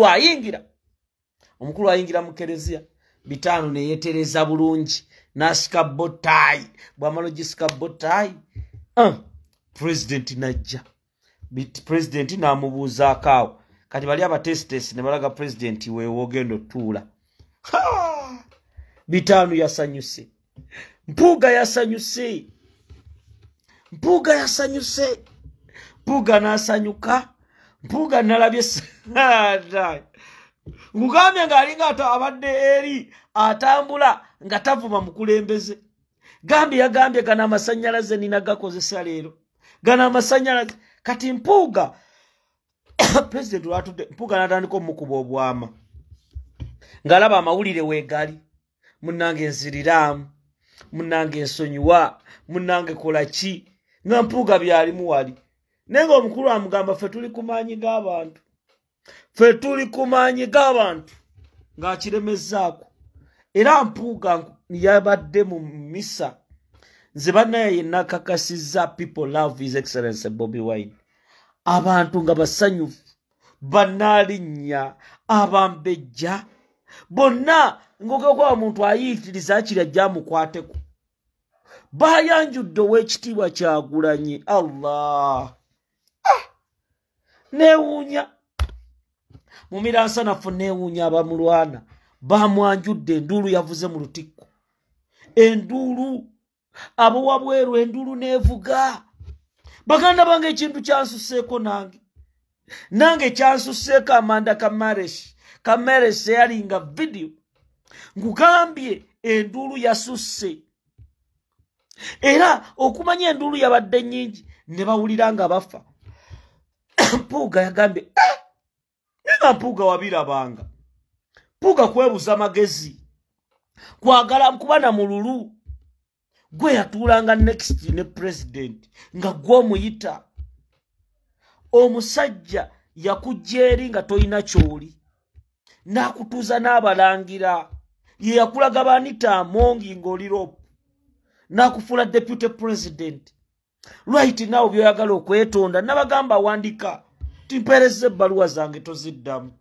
ayingira omukulu ayingira mu kereziya bitaano neyetereza bulungi nasika botayi bwamala ogisika botayi uh, pulezidenti najja pulezidenti namubuuzaako awo kati bali abatesitesi ne balaga pulezidenti wewoogenda otuula bitaano yasanyuse mpuuga yasanyuse mpuuga yasanyuse mpuuga nasanyuka mpuuga nalabye ngugambye ngaalinga ato abadde eri atambula nga tavuma mukulembeze gambye yagambye gano amasanyalaze nina gakozesa leero gano amasanyalaze kati mpuuga president lwatudde mpuuga natandika omukuba obwama ngaalaba amawulire wegali munange nziriraamu munange nsonyiwa munange kola ki nga mpuuga byalimu wali naye nga omukulu amugamba ffe tuli ku maanyi g'abantu ffe tuli ku maanyi g'abantu ng'akiremezzaako era mpuuga yabadde mu misa nze banaye yenna kakasizza people love his excellence bobi wine abantu nga basanyufu banalinnya abambejja bonna ngogekwa omuntu ayiikiriza akira jamukwateko bayanjudde ow'ekitiibwa kyagulanyi allah ah! newuunya mu miransanafu newuunya abamulwana bamwanjudde enduulu yavuze mu lutikko enduulu abo wabweru endulu nevuga baganda bange ekintu kyansuseeko nange nange kyansuseeko amanda kamares kamares eyalinga vidiyo nkugambye endulu yasusse era okumanya endulu yabadde nyingi ne bawulira nga bafa mpuuga yagambye eh! nga mpuuga wabirabanga mpuuga kwebuza magezi kwagala kuba na mululu gwe yatuulanga next ne president nga gwe omuyita omusajja yakujja eri nga tolina kyoli n'akutuuza n'abalangira ye yakulaga banita amongi ng'oli rope n'akufuula deputy president right now byoyagala okwetonda nabagamba awandika timpereza ebbaluwa zange toziddamu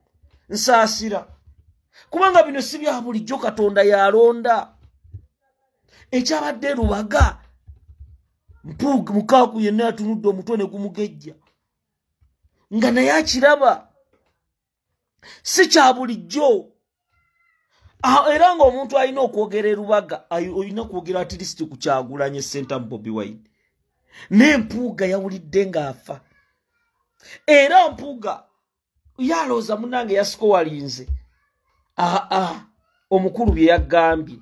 nsaasira kubanga bino si bya bulijjo katonda yalonda ekyabadde lubaga mpuug mukaaku yenna yatunudde omutwe ne gumugejja nga naye akiraba si kya bulijjo ah, era ng'omuntu alina okwogera erubaga olina kwogera atilisiti ku kyagulanye sentamu bobi wine n'empuuga yawulidde ng'afa era mpuuga yalooza munange yasikowalinze aa ah, ah, omukulu bye yagambye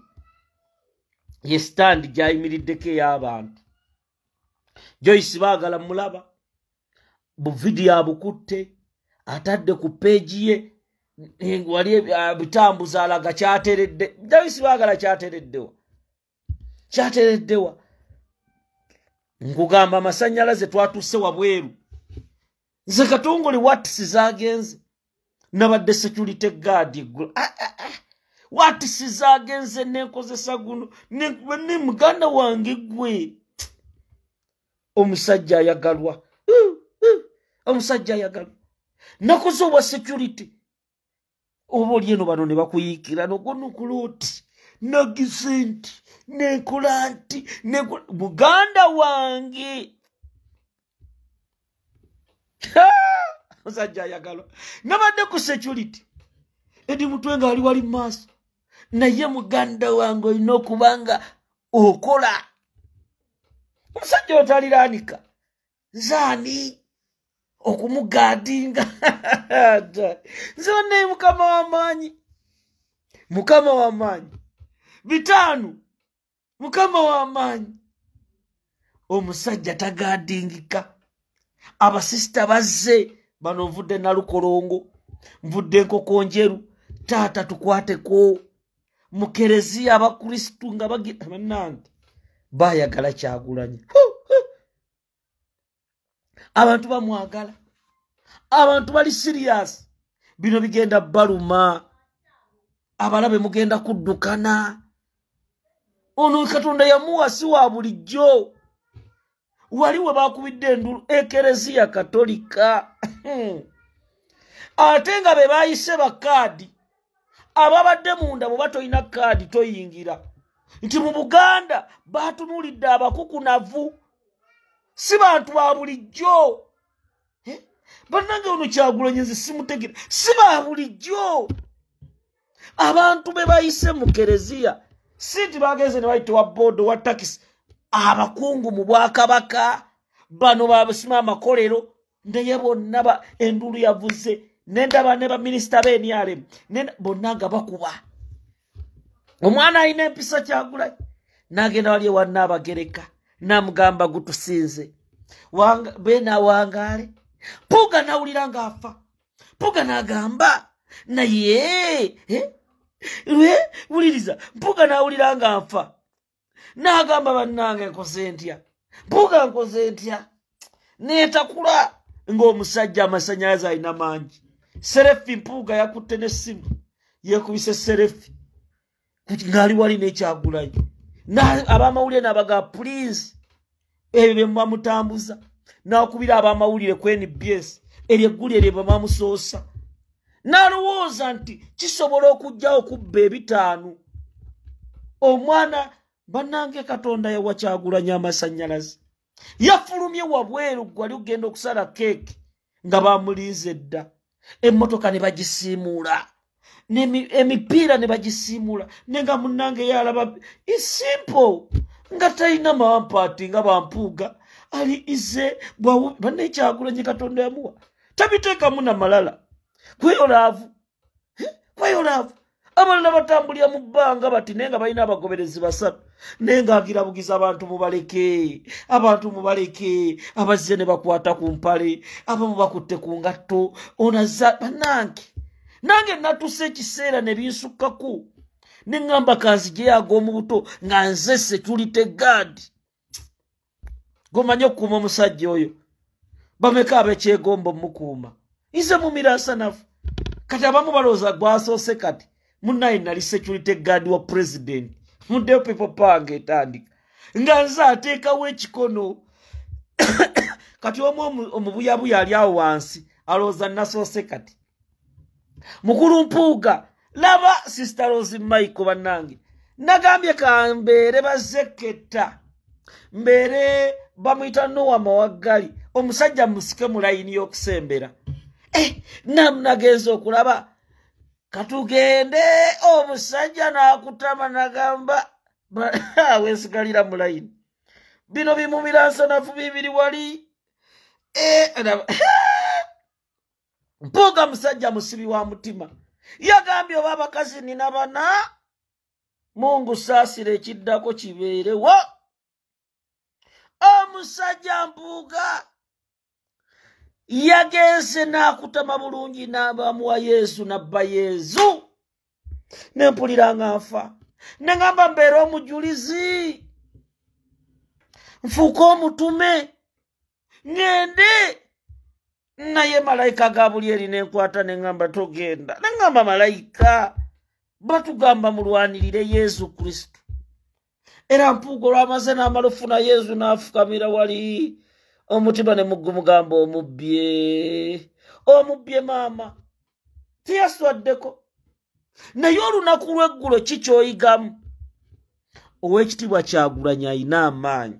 ye sitandi gy'ayimiriddeko ey'abantu joyce baagala mulaba buvidiyo abukutte atadde ku peegi ye wali bitambuza alaga kyateredde joyce baagala kyatereddewa kyatereddewa nkugamba amasanyalaze twatuuse wabweru nze katongole watisi zagenze nabadde security guard eggulu ah, ah, ah. watisiza agenze nenkozesa guno ne muganda wange gwe omusajja ayagalwa omusajja ayagalwa nakoze obwa security oba oli eno bano ne bakuyiikira nogonukula oti nagize nti nenkola nti muganda wange musajja ayagalwa nabadde ku security edi mutwe nga ali wali maaso naye muganda wange olina okuba nga okola omusajja otaliranika zaani okumugaadinga nze banaye mukama wamaanyi mukama wamaanyi bitaano mukama wamaanyi omusajja tagaadingika abasisita bazze bano nvudde nalukolongo nvudde enkoko njeru taata tukwateko mukereziya abakristu nga bagibanange bayagala kyagulanyi abantu bamwagala abantu bali sirias bino bigenda baluma abalabe mugenda kuddukana ono katonda yamuwa si wa bulijjo wali we bakubidde endulu ekereziya katolika hmm. ate nga be bayise bakaadi ababadde munda bwe batolina kaadi toyingira nti mu buganda batunulidde abakukunavu si bantu ba bulijjo eh? bannange ono kyagulanye nze simutegere si ba bulijjo abantu be bayise mu kereziya si nti bagenze ne bayita wa boodo wa takisi abakungu mu bwakabaka bano babasima amakolero naye bonna ba enduulu yavuze nendaba ne baminisita benrm bonna nga bakuba omwana alina empisa kyagula nagenda wali ewanna abagereka namugamba gutusinze benawangaale puga nawulira nga afa puga nagamba naye eh? wuliriza mpuga nawulira nga nfa n'agamba bannange nkoze ntya mpuuga nkoze ntya neetakula ng'omusajja amasannyalaze alina mangi serefi mpuuga yakutte n'essimu yeekubise serefi ng'ali wali n'ekyagulayo abamawulire n'abaga puliizi ebyo bye muba mutambuza n'akubira ab'amawulire ku nbs eryo eggulire lye bamamusoosa n'alowooza nti kisobola okujja okubba ebitaano omwana bannange katonda yawa kyagulanya amasannyalaze yafulumye wabweru gwali okugenda okusala keeke nga bamulinze dda emmotoka ne bagisiimuula emipiira ne bagisiimuula ne nga munnange yalaba isimple nga talina mawampaati nga bampuuga ali ize banaekyagulanyi katonda yamuwa tabiteekamu na malala kweyo laavu kweyolaavu abalina batambulira mu bbanga bati naye nga balina abagoberezi basatu naye ngaagirabugiza abantu mubaleke abantu mubaleke abazze ne bakwata ku mpale abamu bakutte ku ngatto onaza banange nange natusa ekiseera ne binsukkako ne ŋŋamba kanzijeyo ag'omu buto nga nzese tulite gaadi gomanye okukuuma omusajja oyo bameka abekyegomba omukuuma nze mumiraasa nafe kati abamu balowooza gwasoose kati munaye nali security guard wa president mudeo people park etandika nga nze ateekawo ekikono kati omu omubuyabuya ali awo wansi alowooza nasoose kati mukulu mpuuga laba sister rose maiko bannange nagambye kambeere bazekketta mbeere bamuyita nowa mawaggali omusajja musike mu layini y'okusembera eh, nam nagenza okulaba katugende omusajja n'akutama nagamba wesigalira mu layini bino bimumira nsanafu bibiri wali eh, mpuuga musajja musibi wa mutima yagambye oba abakazi nina bana mungu saasira ekiddako kibeerewo omusajja mpuuga yagenze n'akutama bulungi n'abamuwa yezu nabba yezu ne mpulira nga nfa ne ngamba mbeera omujulizi nfuuka omutume ŋende naye malayika ga buli eri ne nkwata ne ŋamba togenda ne ŋamba malayika batugamba mulwanirire yesu kristo era mpuuga olwamaze n'amalufu na yezu n'afukamira wali omutima ne mugumugamba omubbye omubbye maama teyaswaddeko naye olunaku lw'eggulo ki kyoyigamu ow'ekitiibwa kyagulanyi alina amaanyi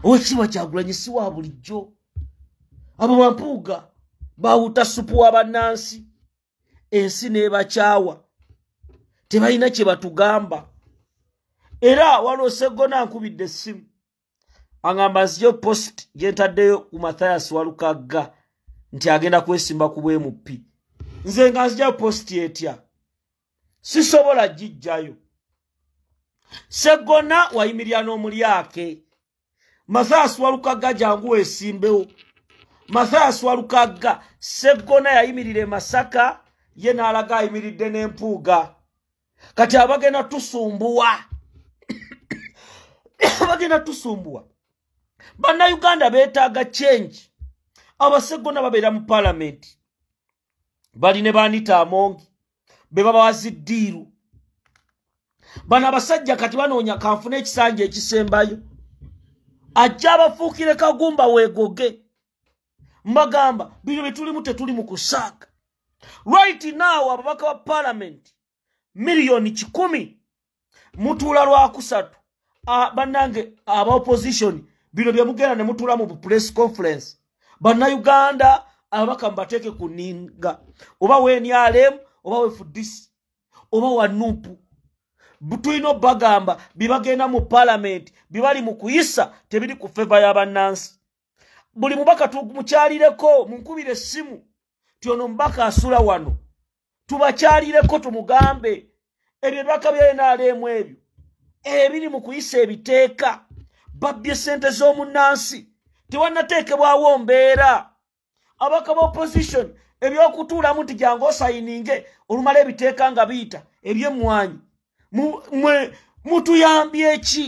ow'ekitiibwa kyagulanyi si wa bulijjo abo bampuuga bawuta supu wa bannansi ensi nebakyawa tebalina kyebatugamba era waliwo seggona nkubidde essimu aŋamba nziyo post gyentaddeyo ku mathias walukagga nti agenda kwesimba ku bwmp nze nga nzijayo post etya sisobola gijjayo seggona wayimirira n'omulyake mathayasi walukagga jangu wesimbewo mathayasi walukagga seggona yayimirira emasaka ye n'alaga ayimiridde n'empuuga kati abagenda tusumbuwa abagenda tusumbuwa bannayuganda beetaaga change abaseggona babeera mu palamenti bali ne baanita amongi be babawa ziddiiru bano abasajja kati banoonya kanfuna ekisanja ekisembayo ajja abafuukire kagumba weegoge mbagamba bino bye tulimu tetuli mu kusaaka right now ababaka ba palamenti miliyoni kikumi mutuula lwakusatu ah, bannange aba opposition bino bye mugenda ne mutuula mu press conference bannayuganda ababaka mubateeke ku ninga oba wenrm oba wefudisi oba wanupu tulina obagamba byebagenda mu palamenti byebali mu kuyisa tebiri ku feva ya bannansi buli mubaka tumukyalireko munkubira essimu ti ono mubaka asula wano tubakyalireko tumugambe ebyo ebibaka bya nrm ebyo ebiri mu kuyisa ebiteeka babbye ssente z'omunnansi tewanateekebwawo mbeera abaka ba opposition ebyokutuulamu nti gyange osayininge olumala ebiteeka nga biyita ebyemmwanyi mwe mutuyambye ki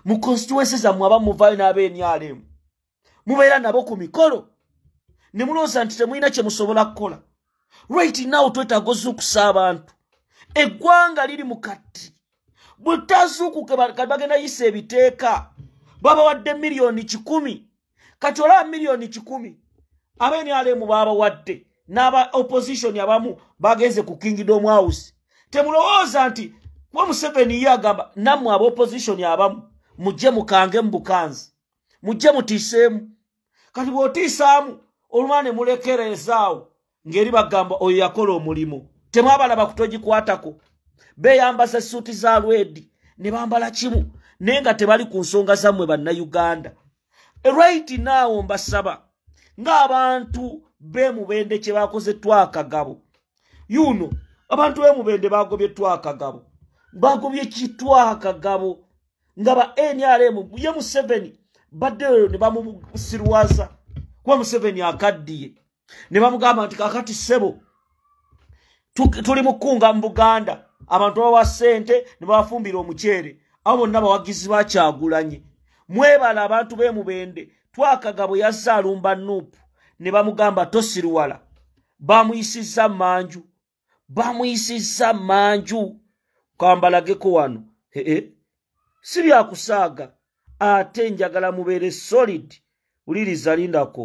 mu constituency zammwe aba muvaayo n'aba enyalemu mubeera nabo ku mikolo ne mulowooza nti temulina kye musobola kukola right now twetaaga ozuukusa abantu eggwanga liri mu kati bwe tazuukuke kati bagenda yisa ebiteeka babawadde miliyoni kikumi kati olaba miliyoni kikumi abenalemu babawadde n'aba opposition abamu bagenze ku kingdom house temulowooza nti kuba museveni ye agamba nammwe aba opposition abamu mujje mukange mu bukanzi mujje mutiiseemu kati bw'otiisaamu olumala ne mulekereezaawo ngeri bagamba oyo yakola omulimu temwabalaba kutogikwatako beyambaza esuuti za lwedi ne bambala kimu naye nga tebali ku nsonga zammwe bannayuganda right now mbasaba ng'abantu bemubende kye bakoze twakagabo yuno abantu bemubende bagobye twakagabo bagobye kitwakagabo nga ba nrm ye museveni baddeyo ne bamusirwaza kuba museveni akaddiye ne bamugamba nti kakati ssebo tuli mu kkunga mu buganda abantu babawa ssente ne babafumbira omuceere abo bonna bawagizi bakyagulanye mwebala abantu be mubende twakaga bwe yazze alumba nuupu ne bamugamba tosiruwala bamuyisizza manju bamuyisizza manju kambalageko wano ee si byakusaaga ate njagala mubeere solid wuliriza lindako